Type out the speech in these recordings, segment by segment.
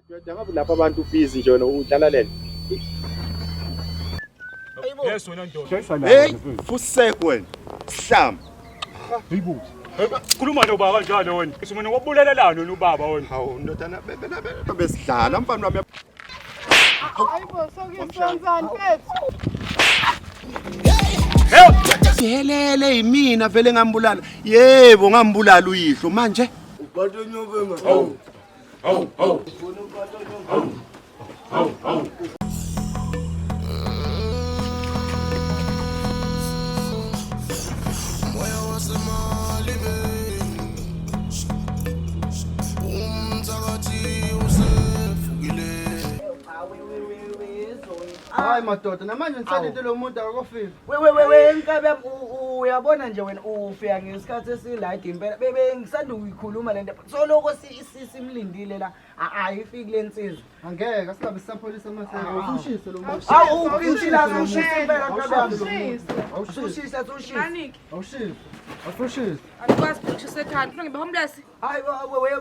Ndoda ngabe lapha abantu busy nje wena udlala lena. Yes wena ndoda. Hey, fusek wena. Sihlam. Hayibo. Khuluma lo baba njalo wena. Usimene wabulelelana lo baba wena. Hawu ndodana bebe bebe besidlala mfana wami. sihelele yimina vele ngambulala yebo ngambulala uyihlo manje hayi madoda namanje ngisalinde lo muntu akakofika wewewewenkabi yam uyabona nje wena ufika ngesikhathi esilide impela bengisanda ukuyikhuluma le nto soloko simlindile la ayifiki le nsizwa angeke asingabe sisapholisa amaseaushise lo muntu awuphintshilazeushise impela kabi yam usushise usushise Awushisi. Awushisi. Akwazi ukushisa ekhanda. Ufuna ngibe homeless? Hayi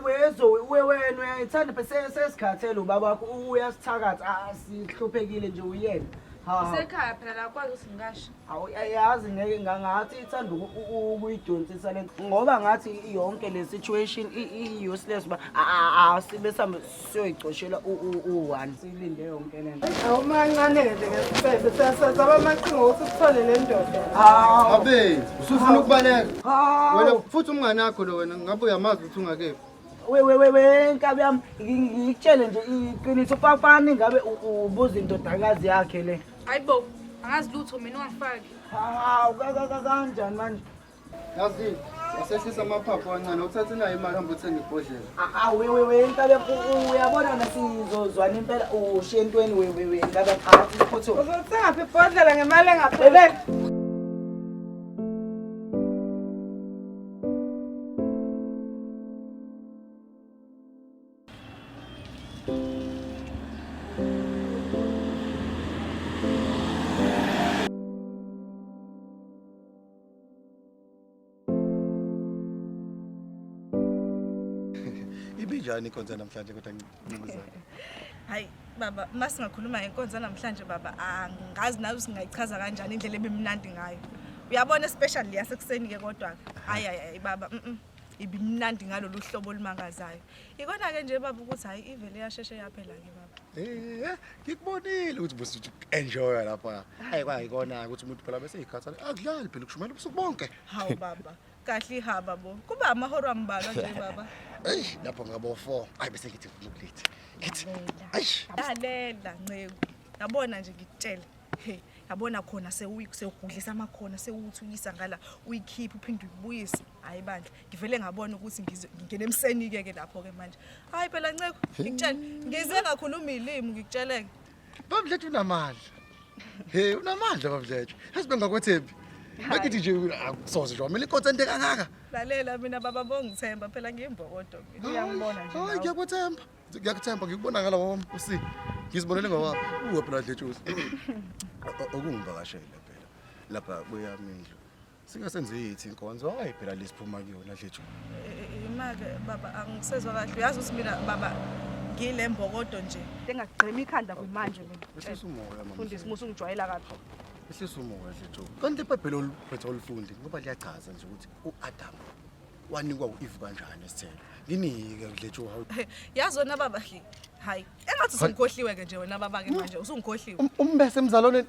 wezo we wena uyayithanda phese sesikhathele ubaba wakho uyasithakatha asihluphekile ah, nje uyena. Usekhaya phela la kwazi ukuthi ngasho. Awu yazi ngeke ngangathi ithanda ukuyidonsisa lento ngoba ngathi yonke le situation i useless ba asibe sambe siyoyicoshela u-one silinde yonke le nto awumancane-ke nje ngesifebe siyasazaba amaqhinga ukuthi uthole le ndoda abe usufuna ukubaleka wena futhi umngane akho lo wena ngabe uyamazi ukuthi ungakephi wenkabi yami ngikutshele nje iqiniso papani ngabe ubuza indodakazi yakhe le hayi bo angazi lutho mina ungangifaki hawu kanjani manje Yazi usehlisa amaphaphu kancane uthathe nayo imali hamba uthenge ibhodlela awewewe impela uyabona wena sizozwana impela ushiye entweni wewewe ngabe phakathi iphuthu uzothenga phi ibhodlela ngemali engaphele Ibinjani ikhonza namhlanje kodwa ncinizana? Hayi baba masingakhuluma ngenkonzo namhlanje baba angazi nawe singayichaza kanjani indlela ebimnandi ngayo uyabona especially yasekuseni ke kodwa hayi hayi baba mm ibimnandi ngalolu hlobo olumangazayo Ikona ke nje baba ukuthi hayi ivele yasheshe yaphela ke baba. Eh, ngikubonile ukuthi bosi uthi enjoy lapha. Hayi kwa ikona ukuthi umuntu phela bese ikhathala. Akudlali phela ukushumayela ubusuku bonke. Hawu baba. Kahle ihaba bo. Kuba amahora ambalwa nje baba. Ey, lapho ngabo 4. Hayi bese ngithi ngikulithi. Ngithi. Ayi. Lalela nceku. Yabona nje ngikutshela. Hey, yabona khona sewugudlisa amakhona sewuthukisa ngala uyikhipha uphinde uyibuyise. hayi bandla ngivele ngabona ukuthi ngingena emseni-ke ke lapho-ke manje hayi phela nceko ngikutshele ngize ngakhuluma iy'limu ngikutsheleke bamdlethu unamandla he unamandla bamdlethu yazi bengakwethembi Bakithi nje akusoze nje wamele inkothi ende kangaka. Lalela mina baba bongithemba phela ngiyimbokodo mina. Uyangibona nje. Hayi ngiyakuthemba. Ngiyakuthemba ngikubona ngala wami usi. Ngizibonele ngawami. Uwe phela dletshuzi. Okungivakashele phela. Lapha kuyami indlu. Sike senze yithi inkonzo hayi phela lesiphuma kuyona dlethu. Imake baba angisezwa kahle uyazi ukuthi mina baba ngile mbokodo nje. Engagqema ikhanda kwimanje mina. Ehlisa umoya mama. Fundisi musu ngijwayela kabi. Ehlisa umoya dlethu. Kanti iBhayibheli oliphethe olufundi ngoba liyachaza nje ukuthi uAdam wanikwa uEve kanjani isithelo. Nginike dlethu hawu. Yazi wena baba hayi engathi usungikhohliwe ke nje wena baba ke manje usungikhohliwe. Umbese emzalwaneni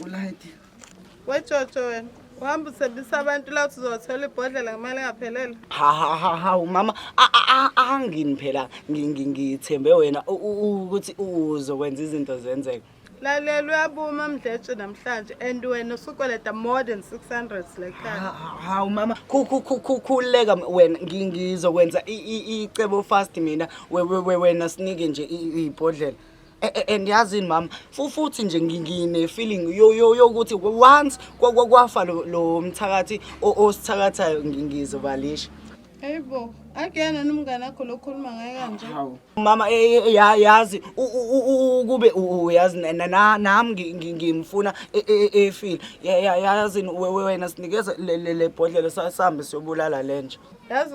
ulayiti wejojo wena uhamba usebisa abantu la uthi uzothola ibhodlela ngemali engaphelele hahahahawu mama angini phela ngithembe wena ukuthi uzokwenza izinto zenzeka lalela uyabuma mdletshe namhlanje and wena usukweleta more than 600 lekhaya hawu mama khululeka wena ngizokwenza icebo fast mina wena sinike nje ibhodlela Eh, eh, and yazini mama fu- futhi nje ngi- ngine-feeling yo- yo- yokuthi once kwa- kwa- kwafa lo- lo mthakathi o- osithakathayo ngi- ngizobalisha Hayibo, akuyena nomngane akho lokhuluma ngaye kanje. Hawu. mama eh, eh, ya- yazi u- u- u- u- ukube u- u- uyazi na- na- na- nami ngi- ngi- ngimfuna e- e- e- efile Ya- ya- yazini we- we- wena sinikeze le- le le bhodlela sa- sihambe siyobulala lenja Yazi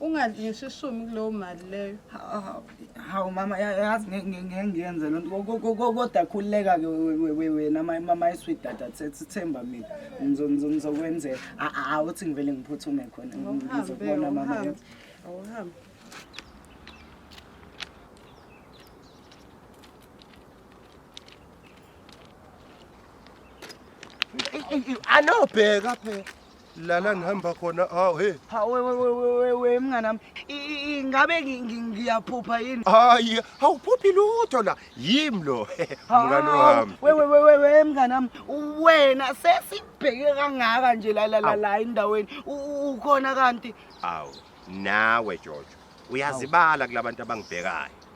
ungadli ngisho ishumi kuleyo mali leyo hawu mama yazi ngeke ngiyenze loo nto kodwa khululeka-ke wena mama isweet dada sithemba mina ngizokwenzela awuthi ngivele ngiphuthume khona ngizokubona mama awuhambe alo bheka phela lala ngihamba khona hawu he we mngani wami ingabe ngiyaphupha yini hayi awuphuphi lutho la yimi lo mngani wami we mngani wami wena sesibheke kangaka nje la la la endaweni ukhona kanti awu nawe jojo uyazibala kulabantu abangibhekayo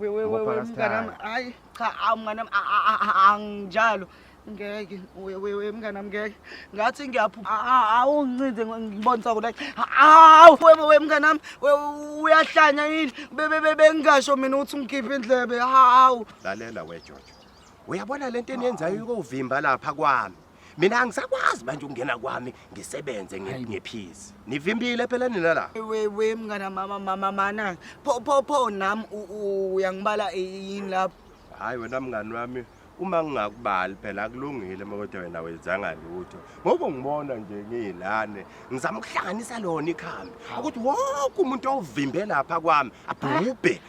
wewe Ngoba wewe mnganami akasithandi. hayi cha awu mnganami a- a- a- a- anginjalo ngeke we- wewe mnganami ngeke ngathi ngiyaphupha A- a- awungincinze ngo- ngibonisa kona awu wewe wewe mnganami we- uyahlanya yini Be- be- be- bengingasho mina ukuthi ungikhiphe indlebe hawu lalela wejojo uyabona le nto eniyenzayo ukuvimba lapha kwami mina angisakwazi manje ukungena kwami ngisebenze nge- ngephizi nivimbile phela nina la we we mngana mama mama mana pho pho pho nam u- u- uyangibala yini lapho hayi wena mngani wami uma ngingakubali phela akulungile uma kodwa wena wenzanga lutho ngoba ngibona nje ngiyilane ngizama ukuhlanganisa lona ikhambi ukuthi wonke umuntu owuvimbe lapha kwami abhubhe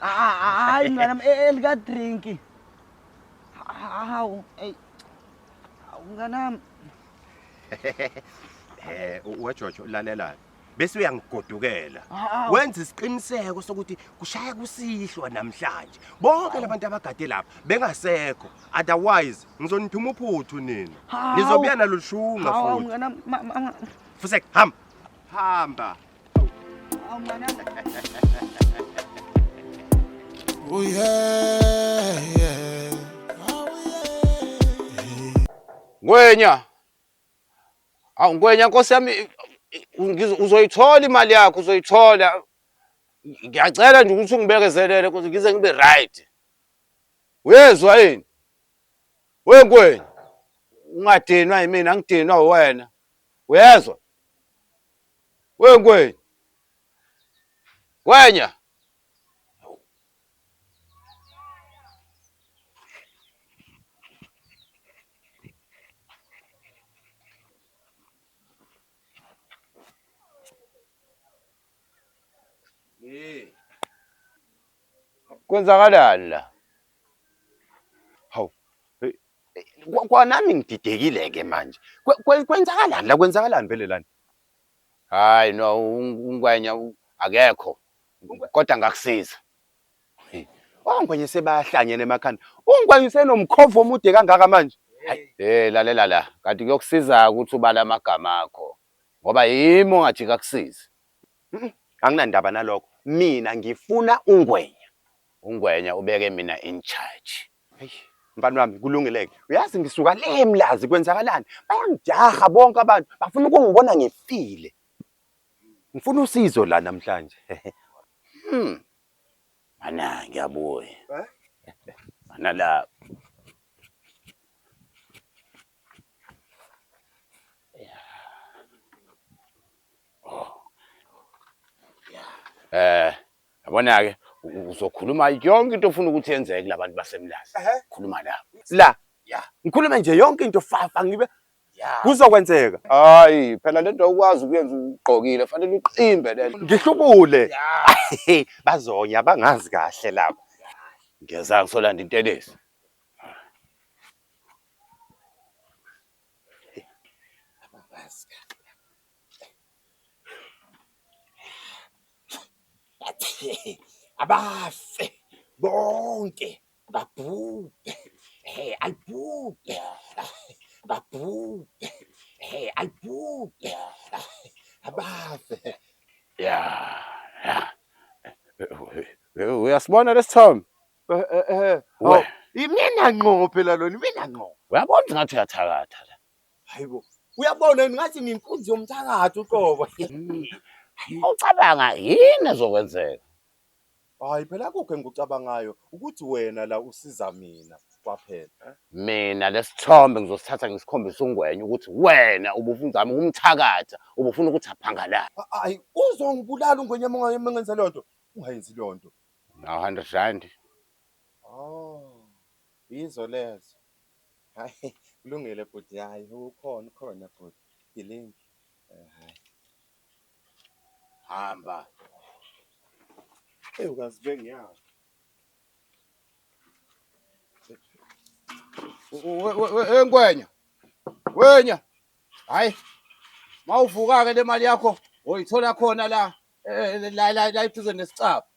Hayi mntwana wami e- elika drink. Hawu, ey. Hawu mntwana wami. Eh uwajojo lalela. Bese uyangigodukela. Hawu. Wenza isiqiniseko sokuthi kushaya kusihlwa namhlanje. Bonke labantu abagade lapha bengasekho. Otherwise ngizonithuma uphuthu nina. Hawu. Nizobuya nalushunga Hawu futhi. mntwana wami. ma- ma- ma- Fusek, hamba. Hamba. Oh yeah, yeah. Oh yeah. Ngwenya. Awu ngwenya Nkosi yami uzoyithola imali yakho uzoyithola. Ngiyacela nje ukuthi ungibekezelele kuze ngize ngibe right. Uyezwa yini? We ngwenya. Ungadinwa yimina ngidinwa wena. Uyezwa? We Ngwenya. Ngwenya. Kwenzakalani la? Hawu. eh, kwa- Kwanami ngididekile ke manje. Kwe- kwe- Kwenzakalani la? Kwenzakalani vele lana? Hayi no ungwenya akekho kodwa ngakusiza. Ongwenya oh, sebahlanyene emakhanda. Ungwenya usenomkhovu omude kangaka manje. Eh lalela la kanti kuyokusiza ukuthi ubala amagama akho ngoba yimi ongathi kakusizi. Anginandaba nalokho. Mina ngifuna ungwenya. Ungwenya ubeke mina in charge. Eish, mfana wami kulungileke. Uyazi ngisuka le emlazi kwenzakalani? Bayangijaha bonke abantu, bafuna ukungibona ngifile. Ngifuna usizo la namhlanje. Hmm. Mana ngiyabuya. Mana la. Eh, Yabona-ke uzokhuluma yonke into ofuna ukuthi yenzeke kulabantu basemlazi. Khuluma la. La. Yeah. Ngikhulume nje yonke into fafa ngibe Yeah. Kuzokwenzeka. Hayi, phela lento awukwazi ukuyenza ugqokile, fanele uqimbe lento. Ngihlubule. Yeah. Bazonya bangazi kahle labo. Ngiyeza ngisolanda intelezi. abafe bonke babhubhe he alibhubhe babhubhe he alibhubhe abafe ya uyasibona lesithombe eh, eh, eh. imina ngqo phela lona imina ngqo uyabona ngathi uyathakatha Hayibo. Uyabona yini ngathi nginkunzi yomthakathi uqobo. Ucabanga yini ezokwenzeka? Hayi phela akukho engikucabangayo ukuthi wena la usiza mina kwaphela. Mina lesithombe ngizosithatha ngisikhombisa uNgwenya ukuthi wena ubufuna uzama ukumthakatha, ubufuna ukuthi aphangalale. A- Hayi uzongibulala uNgwenya uma ungaye- uma ngenze leyo nto. Ungayenzi leyo nto. Nawu 100 rand. Oh. Yizo lezo. Hhayi kulungile bhuti hhayi ukhona ukhona bhuti gilingi um hhayi hamba eyi ukazi bengiyaphi enkwenya wenya hhayi mawuvuka-ke le mali yakho oyithola khona la eh, la la la eduze nesicaba